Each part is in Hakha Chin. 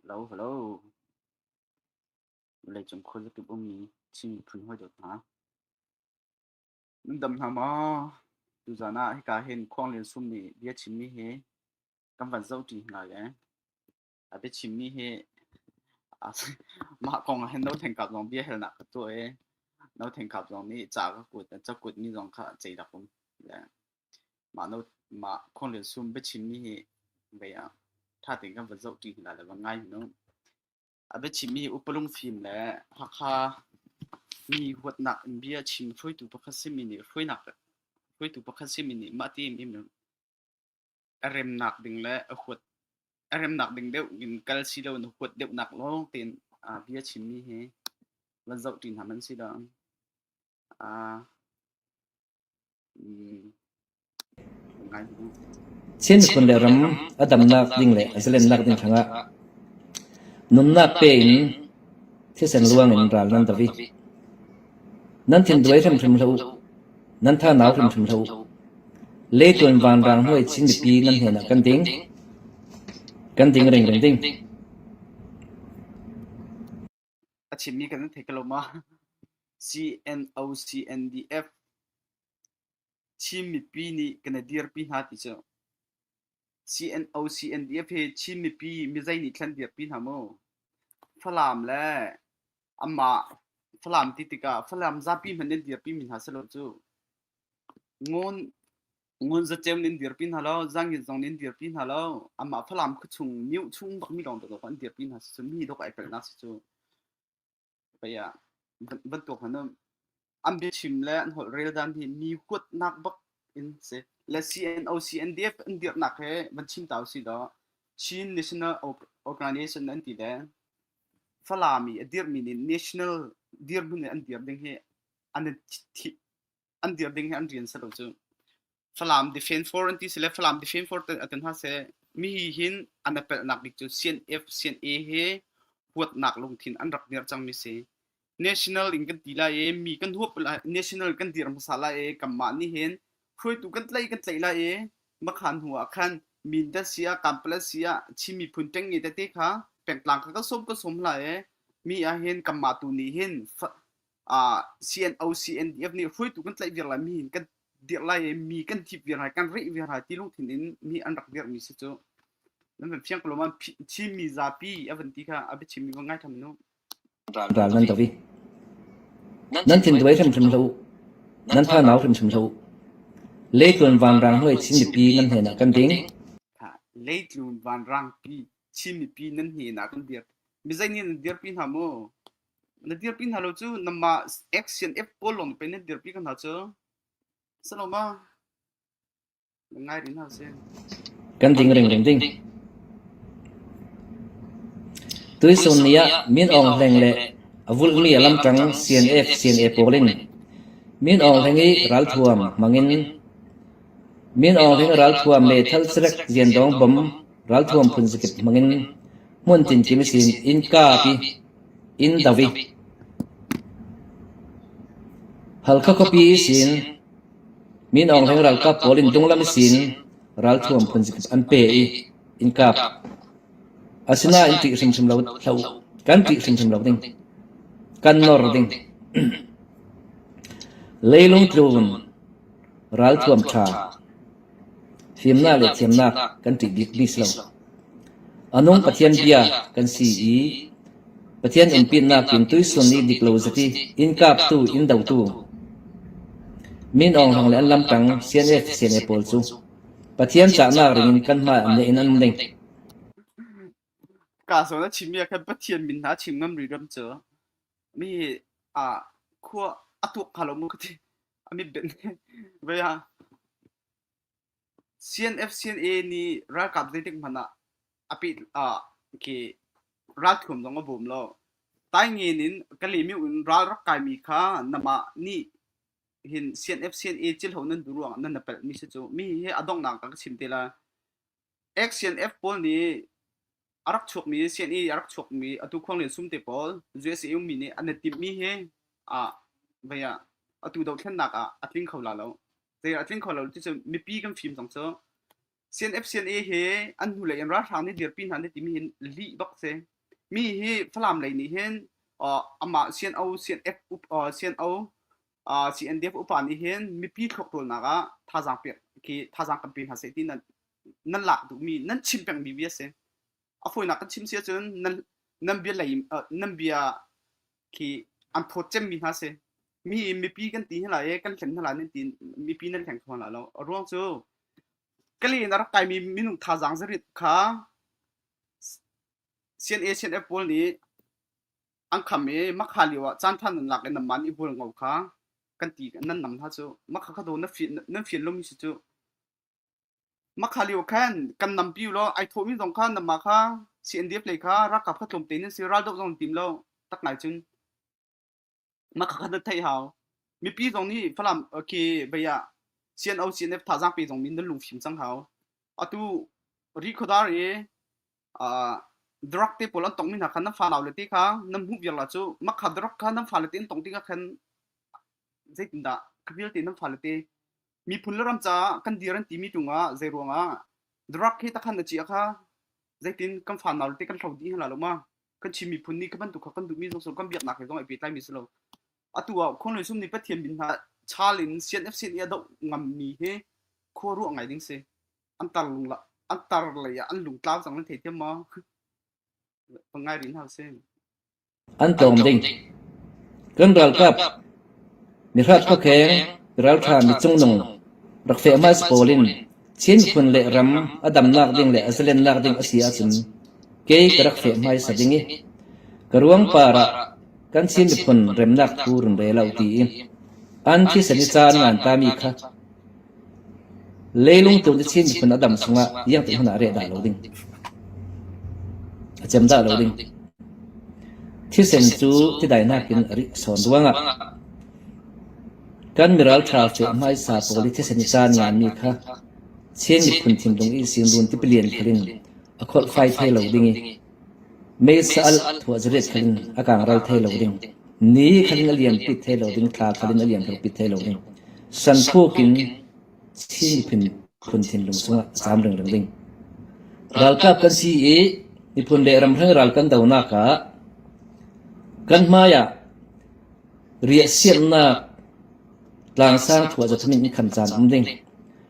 Halo, halo. Vawleicung khuazakip ummi Chin miphun hawi dawt hna. Nan dam hna maw? Tuzan ah hika hin khuanglian sum nih bia chimmi hi kan van zoh ṭi hna le A biachimmi hi mah kong ah hin No Theng Kap zong biahalnak ka tuah i No Theng Kap zong nih ca ka kut cakut mi zong kha cei rak um. Mah no mah Khonlil Sum biachimmi hi vei ah ṭha tein kan va zohṭi hna le va ngai hnu. A biachimmi hi upalung fim le Hakha mi huatnak in bia chim hruaitu pakhat simi nih hruainak hruaitu pakhat simi nih mah ti im im a remnak ding le a huat a remnak ding deuh in kal si lo na huat deuhnak lawng tein uh, bia chimmi hi van zoh ṭin ham an si lo. Uh, Chin phun le ram a damnak ding le a zalennak ding thangah nunnak pe in thisen luang in ral nan davi nan thin duai hrim hrim hlo Nan thahnak hrimhrim hlah u. Le tuan vanrang hnuai Chin mipi nan hnenah kan ding. Kan ding rengreng ding. A chimmi kan thei ko ma. CNO-CNDF Chin mipi nih kan i dirpi hna ti cu. CNO/CNDF hi Chin mipi mizei nih thlen piak pi hna maw? Falam le amah Falam ti tikah Falam zapi hmanh in dirpi mi hna selaw cu ngun ngun zaceu nih an dirpi hna lo, zangin zong nih an dirpi hna lo. Amah Falam khuachung, mioh chung bak mi lawng dok in dirpi hna si cu mi dok ai pelhnak si cu. pei ah bantuk hmanh an biachim le an holh reldan hi mi kuatnak bak in si le CNOCNDF an dirnak he van chim ta si do Chin National Organization an ti le Falami a dirmi nih national dirhmun an dir ding hi an thi an dir ding he an rian silo cu Falam Defense Force an ti sile Falam Defense Force te atin ha se mi hi hin an apelnak bik cu CNF CNA he huatnak lungthin an rak dir cang mi si national in kan ti lai e mi kan huap la national kan dir hmasa lai e kan mah ni hin hruaitu kan tlai kan tlai lai e makhan hu ah khan min da sia kampala sia chimi phun teng ni te te kha pengtlang ka ka som ka som la e mi a hin kamma tu ni hin uh, CNO-CNDF nih hruaitu kan tlaih viar lai mi kan dirh lai mi kan thip viar hai kan rih viar hai ti lung thin in mi an rak dirh mi si cu nan van fiang ko lom thim mi zapi avan ti kha abi chim mi va ngai tham nu ral nan tavi nan thin duai hrim hrim lo nan tha nau hrim hrim lo le tlun van rang hoi chin pi nan hne na kan ding le tlun van rang pi chin pi nan hne na kan dir mi zai ni dir pi na mo Na dirpi hna lo cu namah action app pawl lawng pe na dirpi ko hna cu. Saloma, ngai rih hna sih. Kan ding ring ding ding. Tuisun ni ah Min Aung Hleng le a vulh mi a lamtang CNF CNA pawl in Min Aung Hleng i ralthuam hmangin Min Aung Hleng ralthuam le thal serek Lian Dong bom ralthuam phun zakip hmangin hmun tin kim sin in ka pi Inn ka vih. Halkha khuapi sin Min Aung Hlaing ralkap pawl in dunglam sin ralthuam phunzikhat an pe i inn kap. Asinain ṭih hrimhrim lo hlah u. Kan ṭih hrimhrim lo ding. Kan nor ding. Leilung tlun. Ralthuam ṭha. Fimnak le thiamnak kan ṭih bikmi si lo. A nung Pathian bia kan si i Pathian innpinnak in tuisun i dik lo zati inn kaptu, inn dotu, min awnghang le an lamṭang sianel sianel pawl cu Pathian cahnak ringin kan hmaiah neh in an ding. Kazawn a chimmi ah khan Pathian min hna chim ngam rih ram cu mi ah khua a tuak hnga lo maw ka ti. CNFCNA nih ralkap zeitik hmanh ah a peh ralthuam zong a bawm lo. Taingen in Kalymyo in ral rak kaimi kha namah nih hin CNFCNA cilho nan duh ruangah nan na pelhmi si cu mi hi a donghnak ah ka chim te lai. XCNF pawl nih a rak chuakmi CNE a rak chuakmi atu khuanglen sum te pawl USAU mi nih an i timhmi hi ah vei ah atu dohthlennak ah a tling kho la lo. Zei a tling kho lo cucu mipi kan fim cang cu. CNF CNA hi an hnu lei in ralhrang nih dirpi hna nih timi hin lih bak si. Mi hi Falam lei nih hin uh, amah CNO CNF uh, CNO CNDF upa nih hin mipi thlawkṭawlnak ah thazaang pek khi thazaang kan pe hna seh ti nan nan lak duhmi nan chim pengmi mi a si. A fawinak kan chim si ahcun nan nan bia lei nan bia khi an phawt cemmi hna si. Mi mipi kan ti hna lai kan hlen hna lai nan ti mipi nan hleng kho hna lo. A ruang cu kali in a rak kaimi minung thazaang zarit kha CNA CNF pawl nih an kham i makha lio ah caan than nan lak i nan man i bul ngo kha kan ti nan nam hna cu makha kha do nan fi nan fi lum si cu makha lio khan kan nam piu lo ai tho mi zong kha nama kha CNDF lei kha rakap kha tlom te nin si ral dok zong tim lo tak ngai cun makha kha na thei hau mipi zong nih falam ke baya CNO CNF thazang pe zong min nan lung fim cang hau atu ri khodar e drug te pawl an tongmi hna khan nan fale le te kha nan hmuh viarla cu mah kha drug kha nan fale te an tong ti khan zeitindah ka vialte nan fale te miphun le ram caah kan dir an timi tung ah zei ruang ah drug he takhan na ci kha zeitin kan fan nau te kan thlo di hla lo ma kan chim miphun ni ka bantuk kha kan duhmi zong kan biaknak he zong ai pehtlai mi si lo atu ah khon lui sum ni pathian bin ha chalin CNF sin ia do ngam mi he khua ruah ngai ding si an tar lung la an tar lei ah an lung tlau cang nan thei thiam maw pangai rin hau sin an tlawm ding kan ralkap mi hrat pakheng raltha mi chungnung rak fe mas polin chin khun le ram adam nak ding le azalen nak ding asi acun ke ka rak fe mai sa ding i karuang para kan chin phun remnak purun re lo ti an thi sani chan ngan ta mi kha Leilung tlawm cu Chin miphun a dang chungah iangte hmanh ah reh dah lo ding, a cem dah lo ding. Thisen cu tidainak in a rik a sawn ruangah kan miral ṭha cu hmaisa pawl i thisen i caan nganmi kha Chin miphun thinlung i sinrun tipilian phur in a kholhfai thai lo ding i Mesaal thuahzaret khan a kaang ral thai lo ding, ni khan a liam pit thai lo ding, thla khan in a liam thok pit thai lo ding, san thuk in Chin miphun phun lung sungah a caam ringring ding. Ralkap kan si i miphun le ramhrang ral kan donak ah kan hmaiah riahsiamnak tlangsang thuahzathamin in khan caan um ding.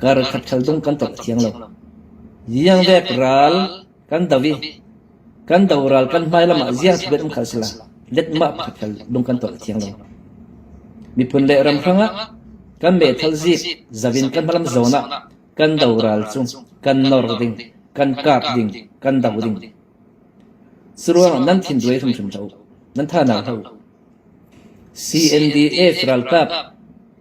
Karkhat khal tung kan tlok a thiang lo. Ziangdek ral kan do i kan do ral kan hmai lam ah ziang thibenh um khal sila letmah pakhat khal lung kan tolh a thiang lo. Miphun le ram hrang ah kan meithal zik zavin kan hmalam zawn ah kan do ral cu kan nor ding, kan kap ding, kan do ding. Curuangah nan thinruai hrimhrim hlah u. Nan tha hna hlah u. CNDF ralkap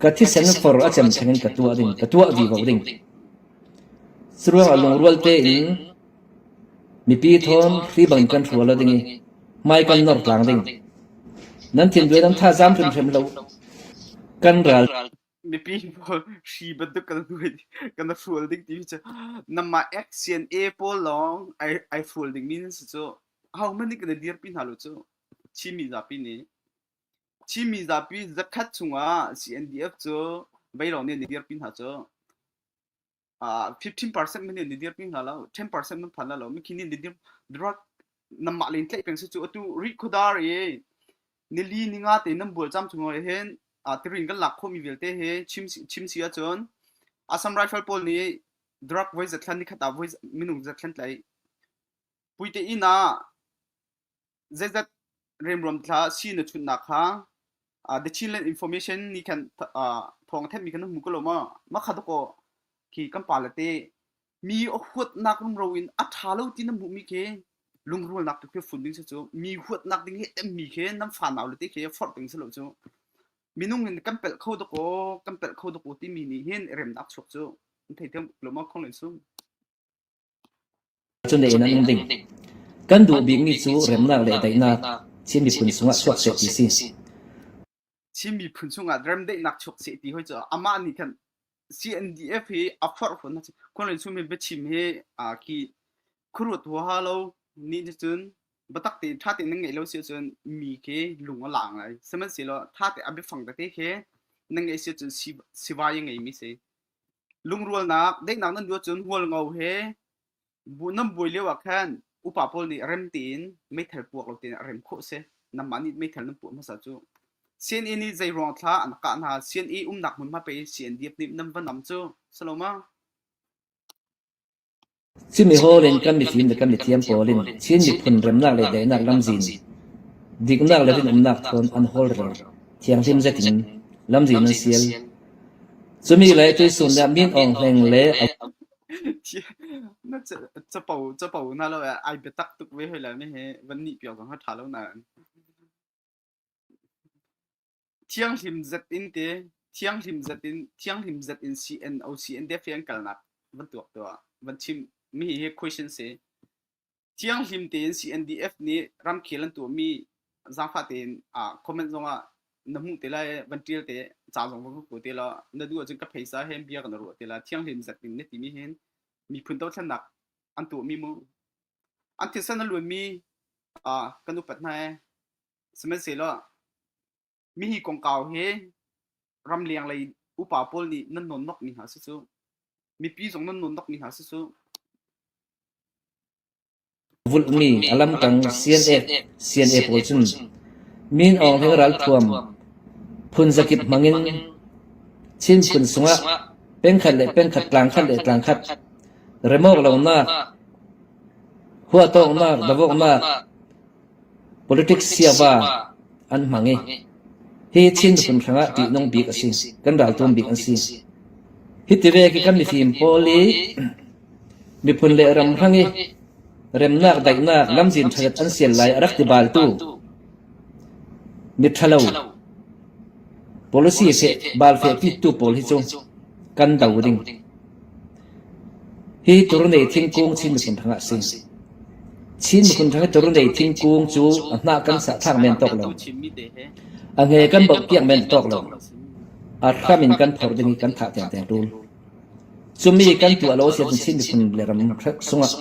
Ka thisen far a cem theng in ka tuah ding, ka tuah vivo ding. Curuangah lungrual tein mipi thawn hri bangin kan hrual a ding i hmai kan nawr tlang ding. Nan thinduai nan thazaam hrimhrim lo. Kan ral mipi pawl hri bantuk kan hruai kan hrual ding timi cu nanmah XCNA pawl lawng ai ai hrual dingmi nan si cu. Ahohmanh nih kan i dirpi hna lo cu. Chinmi zapi nih. Chinmi zapi zakhat chungah CNDF cu beilawng nih an i dirpi hna cu. Fifteen percent min nih an i dirpi hna lo. Ten percent nan phan lo. Mikhi nih an i dir. Direct nanmah len tlaih peng si cu atu rih khuadar i nili ninga te nan bual cham chung ah hin tirin kan lak khomi vialte hi chim si ahcun Assam Rifle pawl nih drug voi zatlan ni khat ah minung zatlan tlaih. Puite inn ah zeizat remruam thla si na chun nak kha the Chinland Information ni khan thong thenmi kan hmu ko lo ma makha to ko ki kan pa la te mi huat nak rum ro in a tha lo ti na mu mi ke lungrul nak tu fun ding se chu mi huat nak ding he em mi ke nam fa naw le te ke for ding se lo chu minung in kan pel kho to ko kan pel kho to ko ti mi ni hin rem nak chuk chu thei them lo ma khong len sum Kan duh bikmi cu remnak le daihnak Chin miphun chungah chuak seh ti si. Chin miphun chungah remdaihnak chuak seh ti hoi cu amah nih khan CNDF hi a forh fawn a si. Khunrin Sumin biachim hi ki khuruat huaha lo nih cun biatak tein ṭha tein nan ngeih lo si cun mi khi lung a laang lai. Sihmanhsehlaw ṭha tein a biafang tete khi nan ngeih si cun sivai a ngeimi si. Lungrualnak daihnak nan duh ahcun hmualngo he nan buai lio ah khan upa pawl nih rem tein meithal puak lo tein a rem khawh a si. Nangmah nih meithal nan puah hmasa cu. CNA nih zei ruang thla an kah hna. CNA umnak hmunhma pei CNDF nih nan va nam cu. Saloma. Cimi hall in kan mifim le kan mithiam pawl in Chin miphun remnak le daihnak lamzin, diknak le rinawmnak thawn an hawlrel thianghlim zetin lamzin an sial. Cumi le tuisun nih Min Aung Hleng le a Na capo capo na lo ah ai biatak tuk ve hoi la mi hi van nih pio zong kha ṭha lo na. Thianghlim zet in te, thianghlim zet in, thianghlim zet in CN, OCN te fian kalnak van tuak tuah, van chim. Mi hi question si. Thianghlim tein CNDF nih ramkhel an tuahmi zaangfah tein ah comment zongah na hmuh te lai, van ṭial te, ca zong van ka kuat te la, na duh ahcun ka phaisa he bia ka na ruah te la, thianghlim zet in na timi hin miphun dothlennak an tuahmi mu. an thilsan a luanmi ah kan upat hna ee. Sihmanhsehlaw mi hi kongkau he ramleng lei upa pawl nih nan nonnokmi hna si cu mipi zong nan nonnokmi hna si cu Vulhmi a lamkang CNF CNA pawl cun min awng he ralthuam phun zakip hmangin Chin phun sungah pengkhat le pengkhat tlangkhat le tlangkhat remawr lonak, huahtawknak, davoknak, politics siava an hmang i hi Chin miphun hrangah ṭihnung bik a si. Kan raltum bik an si. Hi tive khi kan mifim pawl i miphun le ram hrang i remnak daihnak lamzin ṭhalet an sial lai a rak ti baltu miṭhalo policy fe bal fe pitu pawl hi cu kan do ding. Hi Turnei thingkung Chin miphun hrang ah a si. Chin miphun hrang i Turnei thingkung cu a hnah kan thlak men tawk lo. A hme kan bawmh piak men tawk lo. A hram in kan phor ding i kan thah tiangtiang ṭul. Cumi kan tuah lo siahcun Chin miphun le ram sungah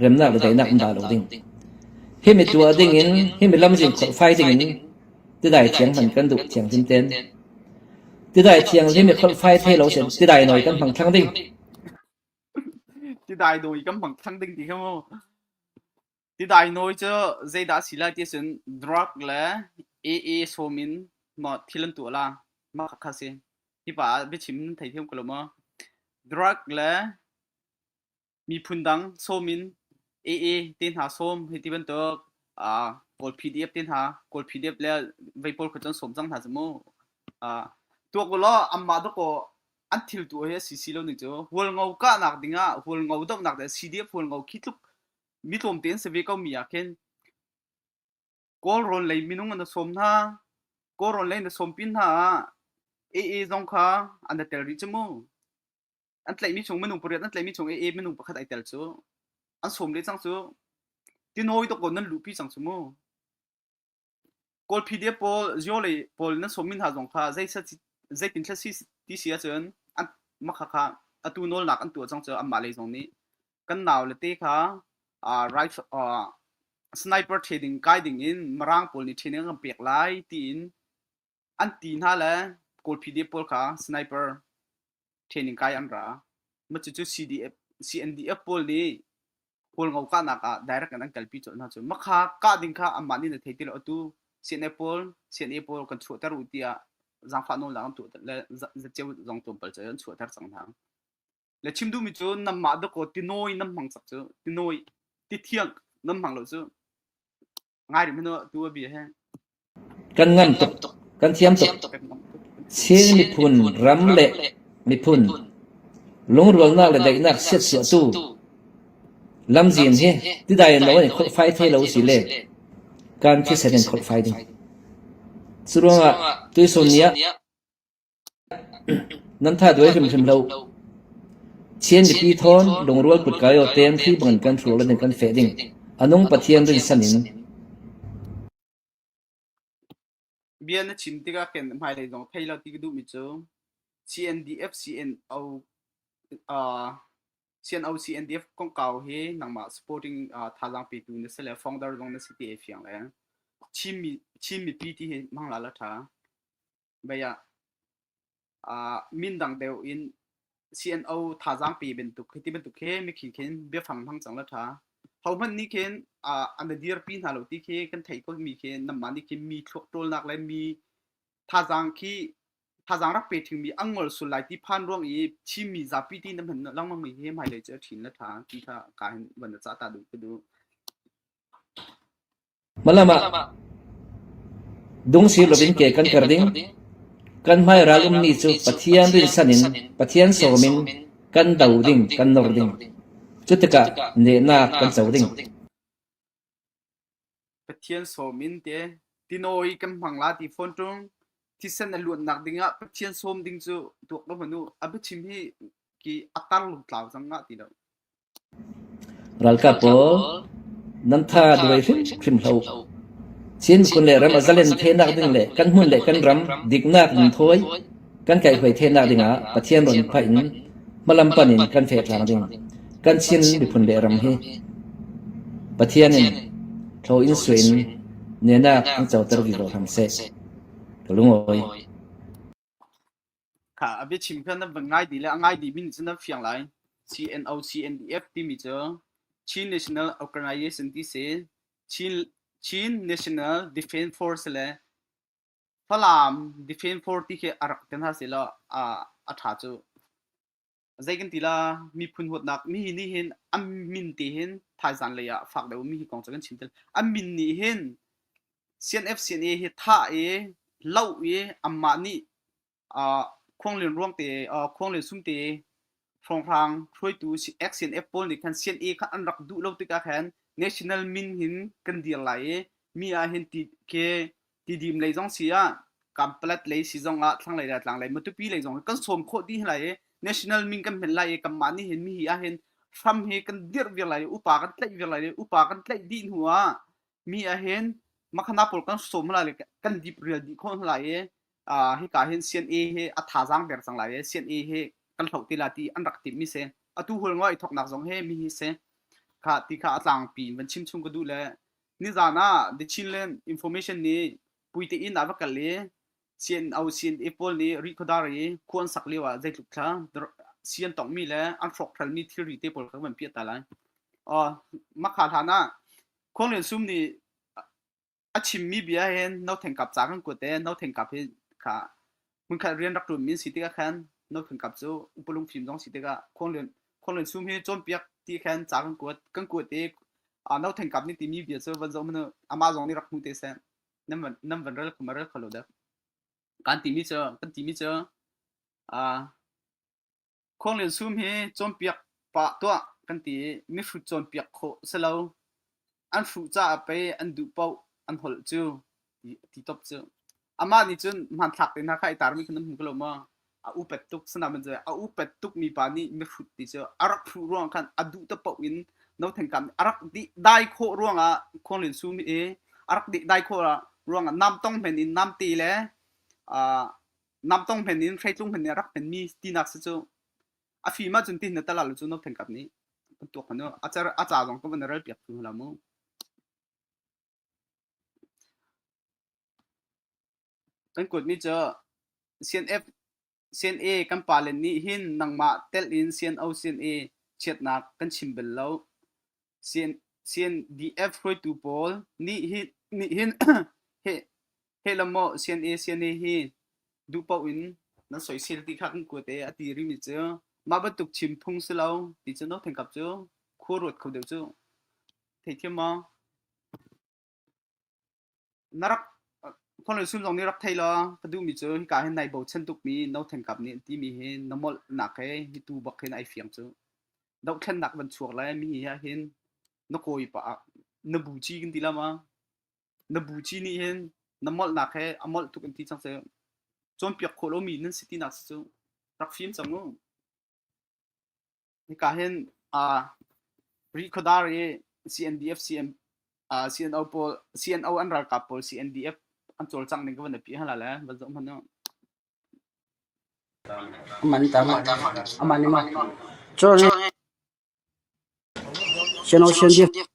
remnak le daihnak in dah lo ding. Himi tuah ding in, himi lam zing kholh fai ding in Tidai thianghlim i phorhfai thei lo seh, tidai nawi kan hmang thlang ding. Tidai nawi kan hmang thlang ding ti kha mu. Tidai nawi cu zeidah a si lai ti cun drug le AA sawm in no thil an tuah la. Mah kha kha si. Hi pa ah biachim thei thiam ko lo maw? Drug le miphun dang sawm in AA te hna sawm hi ti bantuk uh, kawl PDF te hna kawl PDF le vei pawl kha cun sawm cang hna mu uh, tuak lo amma do ko an thil tu he si si lo ni chu hual ngo ka nak dingah hual ngo dok nak de CDF hual ngo khi tluk mi tlom ten se ve ko mi aken kawl ron lei minung an som na kawl ron lei na som pin na AA zong kha an tel ri chemu an tlaihmi chung minung pariat an tlaihmi chung AA minung pakhat ai tel cu an sawm le cang cu ti nawi to ko nan luhpi cang cu mu kawl pdf pawl zio le pawl nan sawmin hna zong kha zeitin thla si ti si ahcun an makha kha atu nawlnak an tuah cang cu anmah lei zong nih kan nau le te kha rifle sniper trading kai ding in marang pawl nih training an pek lai tiin an ti hna le kawlphite pawl kha sniper training kai an ra ma cucu CDF CNDF pawl nih kawl ngo ka nak ah direct an kalpi cawlh hna cu makha ka ding kha amah nih na thei ti lo atu CNA pawl CNA pawl kan chuah ter u tiah zangfa no lang tu le za cheu zong tlom pal an chuah ter sang thang le chim du mi cu nam ma da ko tinoi nam mang sak cu tinoi ti thiang nam mang lo cu Kan ngam tuk, kan thiam tuk. Chin miphun ram le miphun lungrualnak le daihnak siatsuahtu lamzin hi tidai in lo in kholhfai thei lo si le kan thisen in kholhfai ding. Cu ruangah tuisun ni ah Nan tha duai hrimhrim lo. Chin mipi thawn lungrual kut kai aw tem thli bangin kan hrur le nih kan feh ding, a nung Pathian rinsan in. Bia na chim tikah khin hmailei zong thei lo ti ka duhmi cu CNDF CNO uh, CNO CNDF kongkau hi nangmah supporting uh, thazaang petu na si le founder zong na si ti ai fiang le Chin mi Chin mipi ti hi hmang la la tha. mei ah uh, min dang deu in CNO thazaang pe bantuk khi ti bantuk khi mi khi khin biafang thang chang la tha ho man ni khin uh, an dir pi hna lo ti khi kan thei ko mi khi namma ni khi mi thluak trol nak le mi thazaang khi thazaang rak pe thing mi angol sul lai ti phan ruang i chim mi za pi ti nam han lang mang mi hi mai le che thin la tha ti tha ka hin wan cha ta du ku du Hmalam ah dungsir loin ke kan per ding. Kan hmai ral ummi cu Pathian rinsan in Pathian sawm in kan do ding, kan nawr ding. Cutikah nehnak kan co ding. Pathian sawm in te tinawi kan hmang la ti fawn ṭung. Thisen a luannak dingah Pathian sawm ding cu tuak lo manu a biachim hi ki a tar lung tlau cang nga ti lo. Ralkap pawl nan tha duai hrimhrim hlah u. Chin miphun le ram a zalen thenak ding le kan hmun le kan ram diknak in thawi kan kaihhruai thenak dingah Pathian rawn phaih in hmalampan in kan fehhrang ding kan Chin miphun le ram hi Pathian in thlaw in suai in nenak an coter vi law hram seh. Ka lungawi. Kha a biachim kha nan van ngai ti le a ngai dihmi nih cun nan fiang lai. CNO, CNDF timi cu Chin National Organisation ti si, Chin, Chin National Defence Force le Falam Defence Force ti khi a rak ti hna sehlaw a, a ṭha cu. zei kan ti la miphun huatnak mi nih hin an min te hin thaizan lei ah fak deuh mi hi kong cu kan chim tel an min nih hin CNFCNA hi thah i lau i amah nih khuanglian ruang te khuanglian sum te hrawnghrang hruaitu XNF pawl nih khan CNA kha an rak duh lo tikah khan national min hin kan dir lai i mi ah hin ti ke Tidim lei zong si ah Kanpalat lei si zong ah thlanglei le tlanglei Matupi lei zong kan sawm khawh dih lai i national min kan hmet lai i kanmah nih hin mihi ah hin hram hi kan dirh viar lai i upa kan tlaih viar lai i upa kan tlaih dih hnu ah mi ah hin makhana pawl kan sawm hna lai kan dip rial dih khawh hna lai i hika hin CNA hi a thazaang ber cang lai i CNA hi kan hloh ti la ti an rak timh mi si atu hul ngawih thawknak zong hi mi hi si kha ti kha a tlangpi in van chim chung ka duh le Nizan ah The Chinland Information nih puite inn ah va kal i CNO CNA pawl nih rikhuadar i khu an sak lio ah zeitluk thla sian tongmi le an hrawkhralmi thilri te pawl kan van piah ta lai. Mahka hlan ah Khuang Lian Sum nih a chimmi bia hin no thengkap ca kan kuat i no thengkap hi kha hmunkhat rian rak ṭuan mi si tikah khan nothing kap cu upalung fim zong si tikah khuanglian khuanglian sum hi cawnpiak ti khan ca kan kuat kan kuat i a nothing kap ni timi bia cu van zong manu ama zong nih rak hmu te seh nam van nam van rel kuma rel kholo dak kan timi cu kan timi cu a Khuanglian sum hi cawnpiak pah tuah kan ti i mihrut cawnpiak khawh a si lo. An hruh caah pei an duh paoh an holh cu a ti top cu. Amah nih cun hmanthlak te hna kha i tarmi kha nan hmu ko lo maw? A upet tuk. Sanamen cu a upet tukmi pa nih mihrut ti cu a rak hruh ruang khan a duh te paoh in notheng kam a rak dih dai khawh ruangah Khuanglian sum hi a rak dih dai khawh ruangah nam tong men in namte le aa namtong hmen in hreitlung hmen nih rak hmen mi tinak si cu a fim ahcun ti na tala lu cu no phen kap nih kan tuak hmanu a car a ca zong kan ral piak tu la mu kan kuat mi cu CNF CNA kan palen nih hin nangmah tel in CNO CNA chiatnak kan chim bel lo CNDF hruaitu pawl nih hin he la maw CNA CNA hi duh paoh in nan soisel ti kha kan kuat e a ti rimi cu mah bantuk chim phung si lo ti cu no thengkap cu khur ruat kho deuh cu theithiam maw Na rak khual sul zong nih rak thei law ka duhmi cu hika hin nai bochan tukmi no thengkap nih an timi hi na molhnak he hi tuu bak hin ai fiang cu. Dohthlennak van chuak lai mi hi ahhin na kawi pa na buci kan ti la ma. Na buci nih hin na molhnak he a molh tuk an ti cang cu. Cawnpiak khawh lomi nan si tinak si cu rak fim cang u. Hika hin Rihkhawdar i CNO pawl CNO an ralkap pawl CNDF an cawlcangh ning ka van api hala le van zoh hmanh u. Amah nih mah. Cun CNO CNDF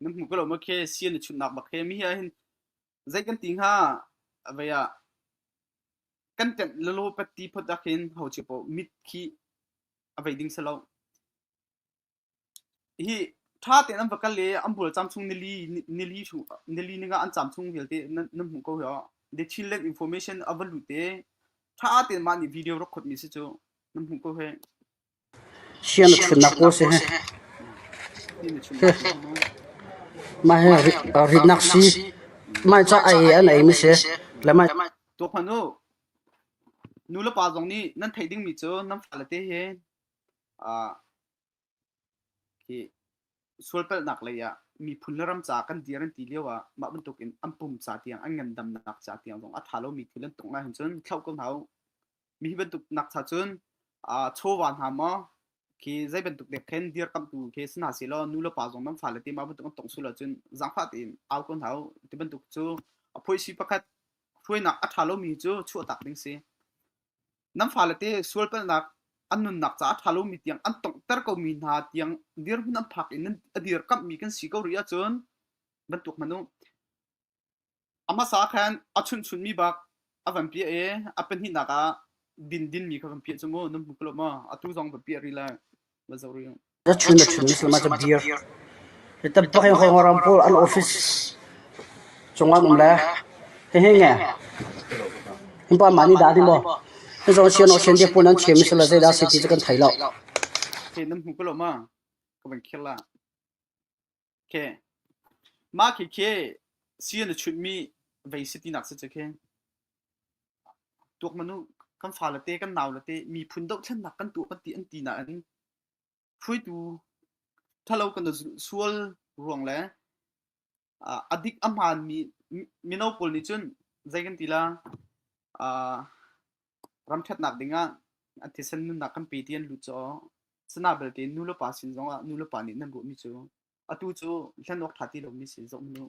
na hmu ko lo ma khe sian na chunnak bak he mi hi hin zei kan ti hnga avei ah kan ṭemh lalo patti phot ah khin ho chi po mit khi avei ding selo hi tha ten an vakal le an bul cham chung nili nili chu nili ninga an cham chung vialte nan hmu ko yo the children information avalu te tha ten ma ni video rokhot mi si chu nan hmu ko he Sian a ṭhutnak pawl a si hih. Mah hi ritnak sii, mah hi ca ai he an eimi a si. Le mah hi tuah hmanh u, nulepa zong nih nan theih dingmi cu nan fale te he sualpalhnak lei ah miphun le ram caah kan dir an ti lio ah mah bantukin an pum ca tiang, an ngandamnak ca tiang zong a ṭha lomi thil an tong ahhin cun thlauh ko hna u. mi hi bantuk nak cha cun uh, chawva hna maw khi zei bantuk dek khen dir kam tu khi sina si lo nu le pa zong nan fale ti ma bantuk an tong su lo cun zang pha tin au kon hau ti bantuk cu apoi si pakhat hruainak a tha lomi cu chuah tak ding si nan fale te sual palnak an nun nak ca a tha lomi tiang an tong ter ko mi hna tiang dir hun an phak in nan adir kam mi kan si ko ri cun bantuk manu A hmasa khan a chunhchunmi bak a van piah i a pahnihnak ah dindinmi kha kan piah cu mu nan hmu ko lo maw atu zong va piah rih lai va zo rih Ka chun a chun slama ka beer. Kita pakai kau orang pul al office. Cungwan um le. Hehe nge. Impa mani da di mo. He zon sian ocean dia pun an chem sala zai da city kan thai lo. Ke nan hmu ko lo ma ka ban khir la Okay. Mah khikhe si na chunhmi vei si tinak si cakhe. Tuak manu kan fa le te kan nau le te miphun dohthlennak kan tuah kan ti an ti na an hruitu thalo kan sual ruang le adik aman mi mino pawl nih cun zei kan ti la ram ṭhatnak dingah a thisen nunnak kan pe ti an lut caw. Sana belte nu le pa sin zongah nu le pa nih nan ruahmi cu atu cu hlen awk ṭha ti lomi sin zoh mu.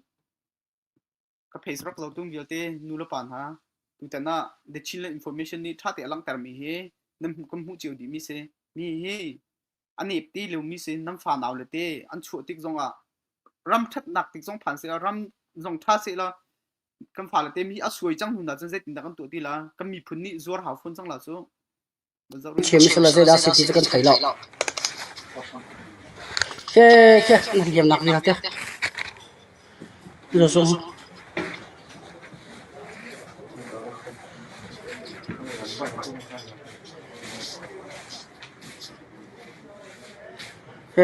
Ka phei rak zo tung vialte nu le pa hna tutan ah the Chin le information nih ṭha te a langhtermi hi nan kan hmuh cio dihmi si. Mi hi a nep te lomi si nan fa nau le te an chuah tik zongah ram ṭhatnak tik zong phan seh ram zong ṭha seh la kan fa le te mi a suai cang hnu hna cun zeitin dah kan tuah ti la kan miphun nih zuar hau fun cang la cu Chem sala te da siti kan thai lo. Ke ke in diam nak vi ha te. Na zung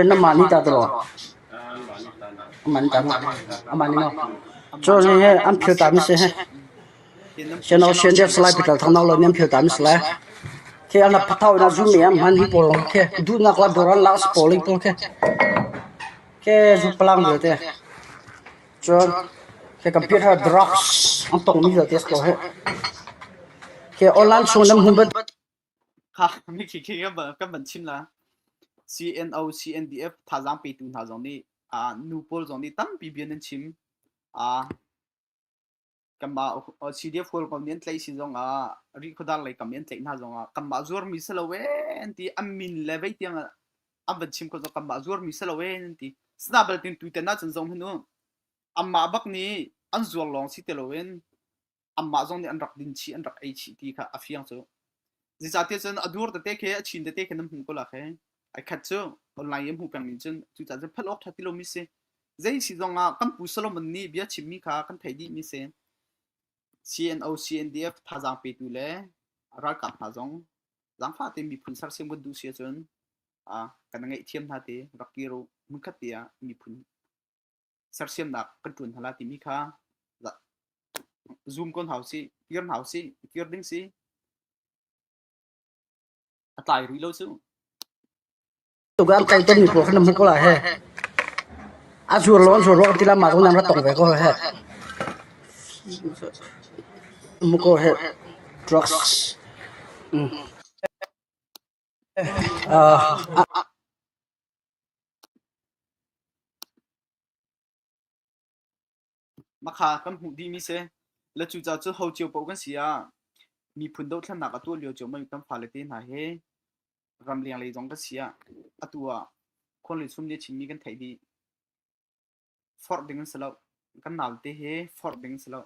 ah hman hi pawl duhnak lai bor an lak si pawl hi pawl khi. Cun hi computer drugs an tongmi vialte a si ko hih. Hi online chung nan hmun bantuk kha mithi khi kan van chim la. CNO, CNDF thazaang petu hna zong nih nu pawl zong nih tampi bia nan chim. kanmah CDF hualpa mi an tlaih si zongah rih khuadar lei kam i an tlaih hna zongah kanmah zuarmi si lo en ti an min le vei tiang an van chim ko zong kanmah zuarmi si lo en an ti sina baltin tuiten ahcun zong hnu anmah bak nih an zuar lawng si te lo in anmah zong nih an rak din chi an rak ei chi ti kha a fiang cu zicahtiah cun a dur tete khe a chin tete khe nan hmu ko la khe Ai khat cu online i hmuh peng ning cun cucaah cun phanh awk ṭha ti lomi si. Zei si zongah kan Pu Solomon nih bia chimmi kha kan theih dihmi si. CNO, CNDF thazaang petu le ralkap hna zong zaangfah tein miphun sersiam kan duh si ahcun ah kan i ngaihthiam hna ti rak kir u. Hmunkhat te ah miphun sersiamnak kan ṭuan hna lai timi kha zoom ko hna u sih, kir hna u sih, kir ding si. Tukah kai kan ni phuah kan hmang ko la he. A sur lo an sur lo ti la ma ko nam ra tong ve ko he. Mu ko he drugs. Ah Makha kan hmuh dihmi si. Le cucaah cu ho cio paoh kan si ah miphun dohthlennak a tuah lio ciomman kan fale te hna hi ram lenglei zong kan si ah atu ah khuan le sum nih a chimmi kan theih dih. Forh ding an si loh. Kan naute hi forh ding an si loh.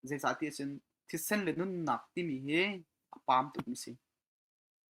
Zeicahtiah cun thisen le nunnak timi hi a pam tukmi a si.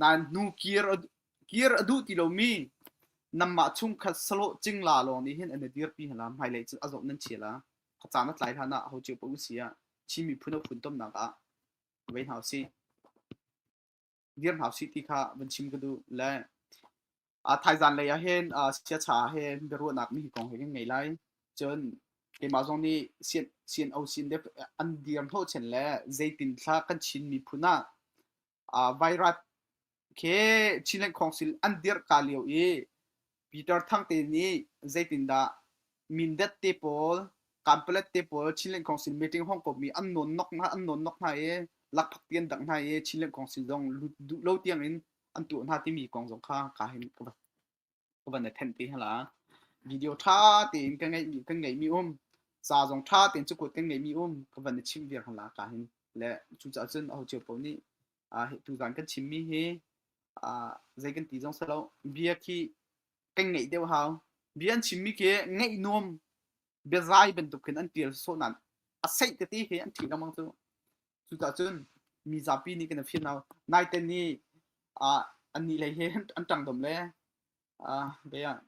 Nain hnu kir a duh ti lomi nanmah chung kha salawh cing la lawng nih hin an i dirpi hna la hmailei cu a zong nan chia la kha caan a tlai hlan ah ho cio pa u sia Chin miphun a funtomnak ah vei hna usih dir hna usih ti kha van chim ka duh le thaizan lei ah hin siacha ah hin biaruahnak mi kong he kan ngei lai cun keimah zong nih CNO sin dep an dir hnawh chen le zeitin thla kan Chin miphun ah virus khi Chin le Khawngsil an dirh ka lio i Peter Thang te nih zeitindah Mindat te pawl Kanpalet te pawl Chin le Khawngsil meeting hong kommi an nawn nok hna an nawn nok hna i lakphak ti an dang hna i Chin le Khawngsil zong lut duh lo tiangin an tuah hna timi kong zong kha ka hin ka vat. ka van i thenh te hala video tha tein ka ngeimi kan ngeimi um ca zong tha tein cu kut kan ngeimi um ka van i chimh viar hala ka hin le cu cah cun aho cio paoh nih tu zan kan chimmi hi zei kan ti zong salo bia khi kan ngeih deuh hau bia an chimmi ke ngeih nuam biazai bantuk khin an tial sawh nan a seih tete he an thi lamang cu Cuka cun mi zapi nih kan i fimno. Naiten ni ah annih lei hi an ṭangdom le be ah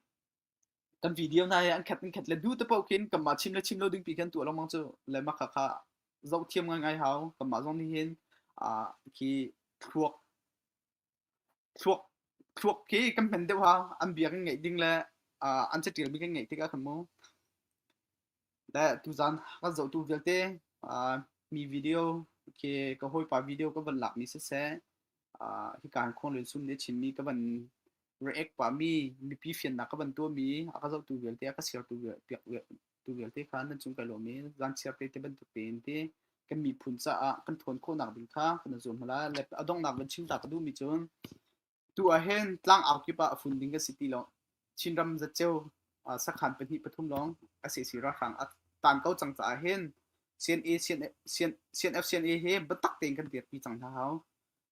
kan video hna hi an khat an khat le du te paoh khin kanmah chim le chim lo ding pi khin tuah lengmang cu le mah kha kha zoh thiam ngai ngai hau kanmah zong nih hin khi thluak thluak hi kan hman deuha an bia kan ngaih ding le an catialmi kan ngaih tikah kan mu. Le tuzaan kan zohtu vialte mi video khi ka hawipa video ka van lakmi siseh hi kaan khon lun sum ne chinmi ka van react pahmi mipi fiannak ka van tuahmi a ka zohtu vialte a ka siartu piak Tu vialte kha nan cung kai lawm i vanchia pe ti bantuk tein ti kan miphun caah kan tthawn khawhnak ding kha kan i zuam hna lai. Le a donghnak van chimta ka duhmi cun tu ahhin tlang au kip ah a fun ding ka si ti lo. Chinram zatceu uh, sakhan pahnih pathum lawng a si si ralhrang a tan ko cang caah hin CNA CNF CNA he biatak tein kan dirpi cang hna hau.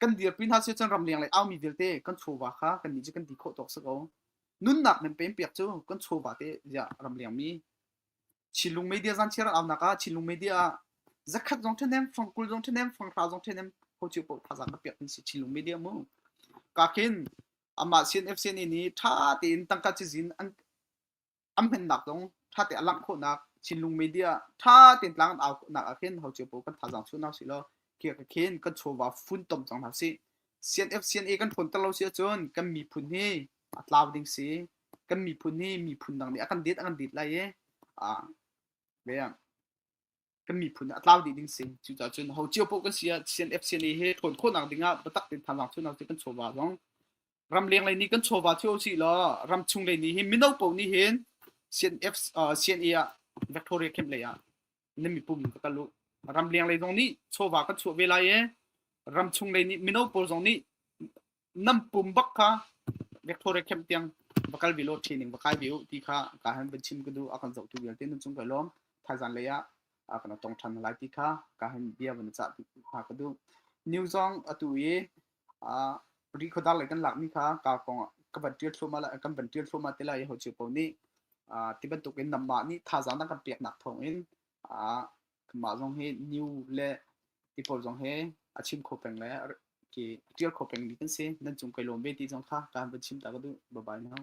kan dirpi hna si cun ramleng lei aumi vialte kan chawva kha kan nih cu kan ti khawh tawk si ko nunnak men pem piak cu kan chawva te ziah ramleng mi chilung media zan chiar aunak ah chilung media ah zakhat zong ṭhenem fang kul zong ṭhenem fang hra zong ṭhenem hochiu po thazang ka piak kan si chilung media mu ka khin ama sin fc ni ni ṭha tein tangka cizin an an hmannak zong ṭhate a langh khawhnak Chinlung media ṭha tein tlang an au khawhnak ah khin ho cio paoh kan thazaang chuh hna sih law khi ka khin kan chawva funtom cang hna sih CNF CNA kan ṭhawn ter lo si ahcun kan miphun hi a tlau ding si kan miphun hi miphun dang nih a kan det a kan det lai i a ve kan miphun a tlau dih ding si cucaah cun ho cio poh kan si ah CNF CNA he thawn khawhnak ding ah biatak tein than thawnak cu kan chawva zong ram leng lei nih kan chawva thio si law ram chung lei nih hin mino poh nih hin CNF CNA ah Victoria camp lei ah nan mipum ka kalu ram leng lei zong nih chawva kan chuah ve lai e ram chung lei nih mino poh zong nih nam pum bak kha Victoria camp tiang va kal vi lo training va kai vi u ti kha ka han van chim ka du a kan zoh tu vialte nun chung ka lom thaizan lei ah a kana tong than lai ti kha ka han bia van cha ha ka du new zong atu i a ri khodar lai kan lak mi kha ka kong ka van tial thloma la kan van tial thloma te lai ho chiu po ni tibantuk in namma ni thaizan kan pek nak thong in a Mah zong hi new le Apple zong hi a chim kho peng le ke tial kho pengmi kan si. Nan cung kai lawm ve ti zong kha ka han van chim ta ka duh. Bye bye now.